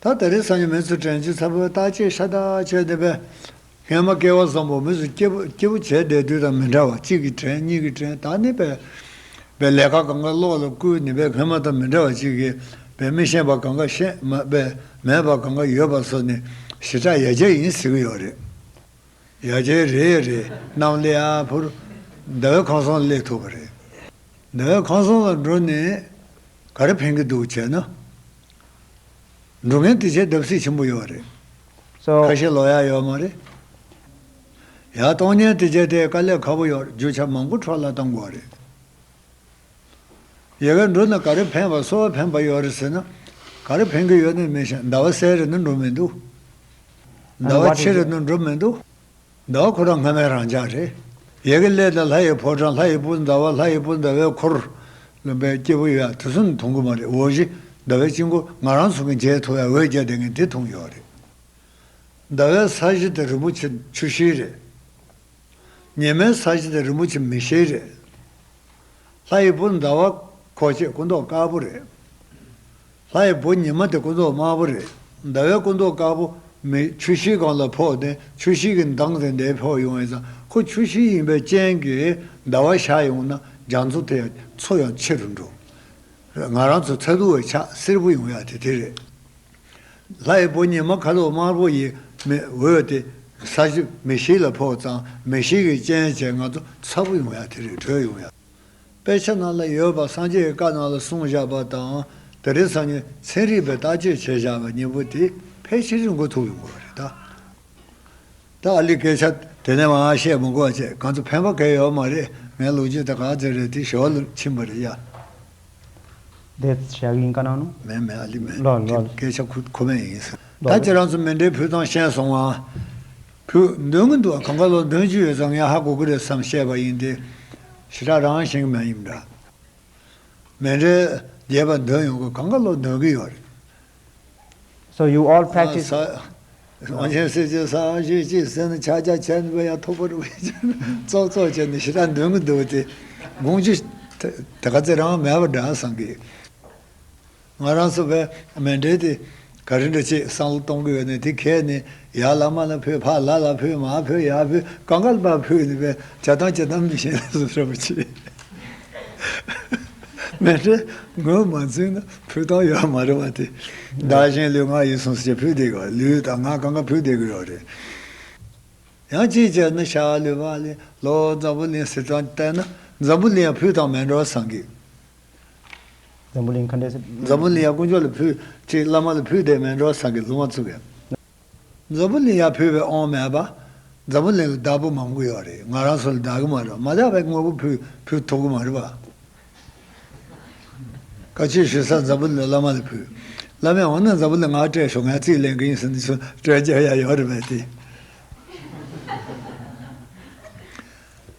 [SPEAKER 1] ད་ལྟ་རེས་གཟའ་ཉི་མའི་ཚུལ་དྲན་བྱེད་ཚ་བོའི་རྟགས་ཅན་ཤ་སྟག་བྱས་བསྡད་པས། ངས་མ་སྐལ་བ་བཟང་པོ་མི་ཚོ་སྐྱིད་པོ་སྐྱིད་པོ་བྱས་བསྡད་དུས་དང་མི་འདྲ་བར་གཅིག་གིས་དྲན་གཉིས་ཀྱིས་དྲན་ད་ནི་བལ་བའི་ལས་ཀ་གང་གཱ་ཀློག་ལ་བསྐུལ་ནི་བལ་མ་དང་མི་འདྲ་བར་གཅིག་གིས་བལ་མི་ཤེས་པ་གང་གཱ་ཤེས་མ་བལ་མེད་པ་གང་གཱ་ཡོད་པ་སོགས་ནི་ཞི་དྲག་ཡ་བརྒྱ་ཡིན་ཟེར་གྱི་ཡོད་རེད། ཡ་ཆད་རེད་ཡ་རེད་གནམ་གླེ་ཨ་ཕོར། ཟླ་བའི་ཁང་བཟང་གླེགས་ཐུབ་པ་རེད། ཟླ་བའི་ཁང་བཟང་ལ་འགྲོ་ནས་ག་རེ་ཕན་གི་འདུག་བྱས་ན། འགྲོ་མཁན་དེ་ཆད་བརྡབ་སྲིད་ཆེན་པོ་ཡོད་རེད། ཁ་
[SPEAKER 2] ཤས་ལོག་ཡག་ཡོད་མ་
[SPEAKER 1] རེད། ཡག་གཏོང་ཉན་དེ་ཆད་དེ་དཀའ་ལས་ཁ་པོ་ཡོད་རྒྱུ་ཆ་མང་པོ་འཕྲོ་བརླག་གཏང་དགོས་རེད། ཡལ་གའི་འགྲོས་ནི་ག་རེ་འཕེན་བ་གསོལ་བ་འཕེན་པ་ཡོད་རེད་ཟེར་ན། ག་རེ་འཕེན་གི་ཡོད་ནི་མི་ཤེས་ཟླ་བ་གསལ་རེད་ནི་འགྲོ་མི་འདུག། ཟླ་བ་ཕྱེད་རེད་ནི་འགྲོ་མི་འདུག། ཟླ་བ་ཁོ་རང་སྔ་མའི་རང་ཅག་རེད། ཡལ་གའི་ཀླད་དང་ལྷ་ཡི་ཕོ་བྲང་ལྷ་ཡི་སྤུ་ཟླ་བ་ལྷ་ཡི་སྤུ་ཟླ་བའི་འཁོར། ལུང་པའི་སྐྱེས་བུ་ཡོད་དེ་ཚོ་ནི་མཐོང་གི་མ་རེད་འོ་བཞི་ཟླ་བའི་དཔྱིད་འགོ་ང་རང་ཚོ་གི་མཇལ་ཐུ་བའི་འོད་བརྒྱ་དེ་ངས་དེ་མཐོང་ཡོད་རེད། ཟླ་བའི་ས་གཞི་དེ་རིན་པོ་ཆེ་ཆུ་བཞི་རེད། ཉེས་མེད་ས་གཞི་དེ་རིན་པོ་ཆེ་མི་ཤེས་རེད། ལྷ་ཡི་བུ་ཟླ་བ་ཁོག་ཆེ་སྐུ་མདོག་དཀར་པོ་རེད། ལྷ་ཡི་བུ་ཉི་མ་དེ་སྐུ་མདོག་དམར་པོ་རེད། ཟླ་བའི་སྐུ་མདོག་དཀར་པོ་མི་ཆུ་ཤིག་གང་ལ་ཕོག་དེ་ཆུ་ཤིག་གི་མདངས་དེ་འདའི་ཕོག་ཡོང་ཡིན་ཙང་ཁོ་ཆུ་ཤིག་ཡིན་པའི་རྐྱེན་གྱིས་ཟླ་བ་ཤར་ཡོང་ན་རྒྱ་མཚོ་དེ་ཡང་མཚོ་ཡང་ཕྱི་རུ་འགྲོ། ང་རང་ཚོ་ཚ་གདུག་བའི་ཆ་སེར་པོ་ཡོང་ཡག་དེ་དེ་རེད། ལྷའི་བུ་ཉི་མ་ཁ་དོག་དམར་པོ་ཡི་མེས་འོད་དེ་ས་གཞི་མེ་ཤིག་ལ་ཕོག་ཙང་མེ་ཤིག་གི་སྤྱན་བྱས་ང་རྡོ་ཚ་པོ་ཡོང་ཡ་དེ་རིང་བྲོས་ཡོང་ཡ། དཔེ་ཆ་ནང་ལ་ཡོད་པ་སངས་རྒྱས་ཀྱི་བཀའ་ནང་ལ་གསུངས་བཞག་པ་དང་དེ་རིང་སང་ཉིན་ཚན་རིག་པས་བརྟག་དཔྱད་བྱས་བཞག་པ་གཉིས་པོ་དེ་ཕལ་ཆེར་རིང་གོ་ཐུག་ཡོང་གི་རེད་ད། ད་ཨ་ལི་སྐད་ཆ་དེ་ནས་མ་བཤད་མ་གོ་བ་བཅས་གང་དུ་ཕན་པ་གས་ཡོད་མ་རེད་ངའི་ལོ་རྒྱུས་དེ་ག་ཚོད་རེད་དེ་ཞོར་ལ་ཕྱིན་པ་རེད་ཡ། བདེ་
[SPEAKER 2] གཤེགས་ཡིན་ཀ་ན་ནོ། མེད་མེད་ཨ་ལི་མེད། ལོ་ལོ།
[SPEAKER 1] སྐད་ཆ་ཁུ་
[SPEAKER 2] ཁོ་མེད་
[SPEAKER 1] ཡིན། ད་ཁྱེད་རང་ཚོ་མེ་འདྲའི་ཕུ་ཐང་ཤན་སོང་ཨ། ཕུ། འདོན་གི་འདུག་གང་ག་ལོ་འདོན་གྱི་ཡོད་ཙང་ངས་ཧ་གོ་གི་རེད་བསམ་བཤད་པ་ཡིན་ཏེ། ཞེ་དྲག་རང་བཞིན་གྱི་མ་ཡིན་པ་འདྲ། མེ་འདྲའི་རྒྱས་པ་འདོན་ཡོང་གི་གང་ག་ལོ་འདོན་གི་ཡོད་རེད།
[SPEAKER 2] ས་ཆེན་སྲིད་
[SPEAKER 1] ཀྱི་ས་ཨང་ཞེས་གཅིག་ཟེར་ནས་ཕྱག་རྒྱ་ཆེན་པོ་ཡང་ཐོག་པར་བས་ཀྱང་ཙོག་ཙོག་བྱས་ནས་ཞི་དྲག་འདོན་གྱི་འདུག་དེ་དགོངས་ཀྱི། དེ་ག་ཚེ་རང་མལ་བ་འདྲ་བསམ་གི། ང་རང་ཚོ་བས་མལ་འབྲེལ་དེ་ག་རེ་འདྲ་བྱས་བསམ་བློ་གཏོང་གི་ཡོད་ནས་དེ་གས་ནས་ཡ་ལ་མ་ལ་ཕུད་ཕ་ལ་ལ་ཕུད་མ་ཕུད་ཡ་ཕུད་ག་ག་ལ་བ་ཕུད་ནས་བས་བྱ་སྟངས་བྱེད་སྟངས་མི་ཤེས་ན་བཟོ་བྱ་མི་བྱེད། མེ་ཏྲེ་ངོས་མ་འཛིན་ན་ཕུད་སྟངས་ཡོད་མ་རེད་བ་དེ། བདག་གཞན་ལུས་ངག་ཡིད་གསུམ་སྤྱི་ཕུད་བསྡད་གི་ལུས་དང་ངག་གང་ག་ཕུད་བསྡད་གི་ཡོད་རེད། ཡང་ཅིག་ཅར་ནི་ཤ་ལུས་བ་ལས་ལོ་འཛམ་བུ་གླིང་སྲིད་ཏང་བལྟས་ན་འཛམ་བུ་གླིང་ཡང་ཕུད་སྟངས་མེད་འགྲོ་བ་བསམ་གི།
[SPEAKER 2] འཛམ་བུ་གླིང་ཁ་འབྲས། འཛམ་བུ་གླིང་ཡང་དཀོན་མཆོག་ལ་
[SPEAKER 1] ཕུད་ཅིག་བླ་མ་ལ་ཕུད་བསྡད་མེད་འགྲོ་བ་བསམ་གི་ལུང་བ་བཙུགས་ཡ། འཛམ་བུ་གླིང་ཡར་ཕུད་པའི་དབང་མེད་པ། འཛམ་བུ་གླིང་ལ་བདག་པོ་མང་པོ་ཡོད་རེད་ང་རང་ཚོ་ལ་བདག་གི་མ་རེད་པ་མ་བདག་པའི་དངོས་པོ་ཕུད་ཕུད་ཐུབ་གི་མ་རེད་པ། བཀའ་ཆོས་ཞུ་ས་འཛམ་བུ་གླིང་བླ་མ་ལ་ཕུད། བླ་མས་འོ་ན་འཛམ་བུ་གླིང་ང་སྤྲད་ཞོག་ངས་རྩིས་ལེན་གི་ཡིན་ཟེར་འདི་ཚོ་སྤྲད་རྒྱ་ཡ་ཡོད་རེད་པས་ཏེ།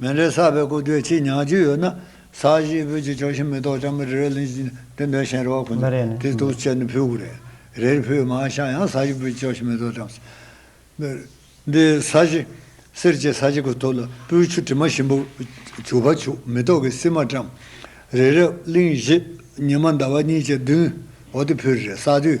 [SPEAKER 1] མེ་ལས་བསགས་པའི་སྐུ་དེའི་ཕྱིར་ཉག་གཅིག་ཡོད་ན། ས་གཞིའི་བོད་ཀྱི་ཕྱོགས་ཞེན་མི་རྟོག་ཅང་མི་རེ་རེ་ལིང་ཅིང་སྟོན་པའི་གཤེན་རེ་བ་ཁོ་ནས་དེ་ཐུགས་སུ་བཅད་ནས་ཕུལ་དགོས། རེར་ཕུལ་མ་བཞག་ཡང་ས་གཞི་བོད་ཀྱི་ཕྱོགས་ཞེན་མི་རྟོག་ཅང་སེ། འདི་ས་གཞི། གསེར་གྱི་ས་གཞི་གོ་ཐོབ་ལ་སྤོས་ཆུ་དྲི་མ་ཞིམ་པོ་བྱུགས་པ་བྱུག་མེ་ཏོག་གི་སིལ་མ་བཀྲམ། རི་རབ་གླིང་བཞི་ཉི་མ་ཟླ་བ་གཉིས་ཀྱི་མདུན་འོག་ཏུ་ཕུལ་རེ་བསགས་དུས།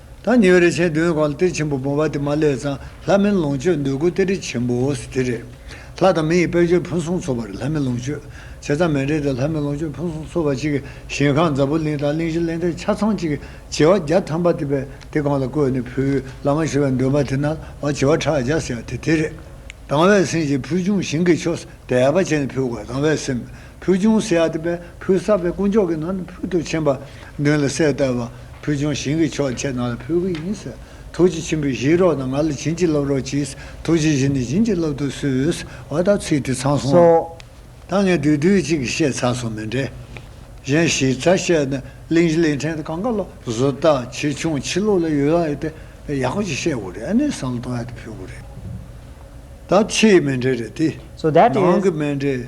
[SPEAKER 1] ད་ཉེ་བའི་རིན་ཆེན་བདུན་གང་ལ་གཏེར་ཆེན་པོ་སྦོམ་བ་དེ་མ་སླད་གཙང་ལྷ་མིན་ལོངས་སྤྱོད་འདོད་དགུ་གཏེར་ཁྲི་ཆེན་པོའོ་དེ་རེད། ལྷ་དང་མི་ཡི་དཔལ་འབྱོར་ཕུན་སུམ་ཚོགས་པར་ལྷ་མིན་ལོངས་སྤྱོད་བྱས་ཙང་མི་འབྲལ་ཏེ་ལྷ་མིན་ལོངས་སྤྱོད་ཕུན་སུམ་ཚོགས་པ་ཅིག་གཞན་ཁང་འཛམ་བུ་གླིང་དང་གླིང་བཞི་གླིང་དག་ཆ་ཚང་ཅིག་བྱེ་བ་བརྒྱ་ཐམ་པ་དེ་དེ་གང་ལ་བཀོད་ནས་ཕུལ་བླ་མ་ཞེས་པའི་འདོན་པ་དེ་ན་བ་བྱེ་བ་ཕྲག་བརྒྱ་བྱས་ཏེ་དེ་རེད། དང་བའི་སེམས་ཀྱིས་ཕུལ་བྱུང་ཞིང་གི་ཆོས་སུ་དད་པ་བྱས་ནས་ཕུལ་དགོས་དང་བའི་སེམས། ཕུལ་བྱུང་སེ་ཨ་ཏི་པས་ཕུལ་གསར་པའི་དཀོན་མཆོག་གི་ནང་དུ་ཕུལ་དུ་ཕྱིན་པ་མདུན་ལ་གསལ་བཏབ་པ། ཕུལ་བྱུང་བྱིན་གྱིས་ཆོག་ཁྱེད་རྣམས་ལ་ཕུལ་གྱི་ཡིན་ཟེར། ཐུགས་རྗེ་ཆེན་པོས་གཞིགས་རོགས་དང་ང་ལ་བྱིན་གྱིས་རློབས་རོགས་གྱིས་ཐུགས་རྗེ་གཞི་ནས་བྱིན་གྱིས་རློབས་ཐུགས་གསོས། བ་དག་ཚིག་དེ་ཚང་སོང་ཨང། ད་ངས་དུས་དུས་གཅིག་གིས་བཤད་ཚར་སོང་མི་འདྲེ། གཞན་གཞིས་རྩ་བཤད་ནི་གླིང་བཞི་གླིང་ཕྲན་དུ་གང་ག་ལ་བཟོ་ལྟ་ཆེ་ཆུང་ཕྱི་ལོགས་ལ་ཡོད་ཨེ་ཏེ་ཡག་པོ་ཅིག་བཤད་དགོས་རེད་ཨེ་ནས་བསམ་བློ་གཏོང་ཡ་དེ་ཕུལ་དགོས་རེད། ད་ཕྱིའི་མི་འདྲེ་རེད་དེ། ནང་གི་
[SPEAKER 2] མི་འདྲེ།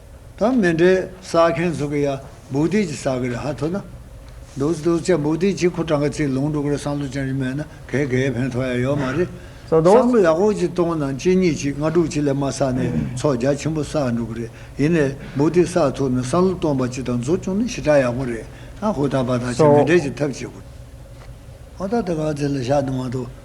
[SPEAKER 1] དང་མི་འདྲའི་ཟ་མཁན་ཚོ་གི་ཡ་འབུག་དེ་ཅི་ཟ་གི་རེད་ཧ་ཐོ་ན། འདུག་འདུག་ཅ་འབུག་དེ་ཅི་ཁོ་གྲངས་ཀ་ཚིག་ལུང་འགྲོ་གི་རེད་སང་ལོ་ཅང་ཅི་མེད་ན་གས་གས་ཕན་ཐོག་ཡ་ཡོད་མ་རེད། སང་ལོ་ཡག་
[SPEAKER 2] པོ་ཅིག་གཏོང་ན་གཅིག་
[SPEAKER 1] གཉིས་ཅིག་ལྔ་དྲུག་ཅིག་ལས་མ་བསགས་ནས་ཚོགས་རྒྱ་ཆེན་པོ་བསགས་འགྲོ་གི་རེད་ཡིན་ནས་འབུག་དེ་བསགས་ཐུབ་ན་སང་ལོ་སྟོང་པ་ཅིག་དང་འཛོ་བྱུང་ན་ཞི་དྲག་ཡག་པོ་རེད་ཨ་ཧོ་ད་བ་ད་ཅི་མི་འདྲའི་ཅིག་ཐབས་བྱེད་དགོས། ཨོ་ད་ད་ག་ཚེ་ལ་ཤ་དུང་བ་དོ།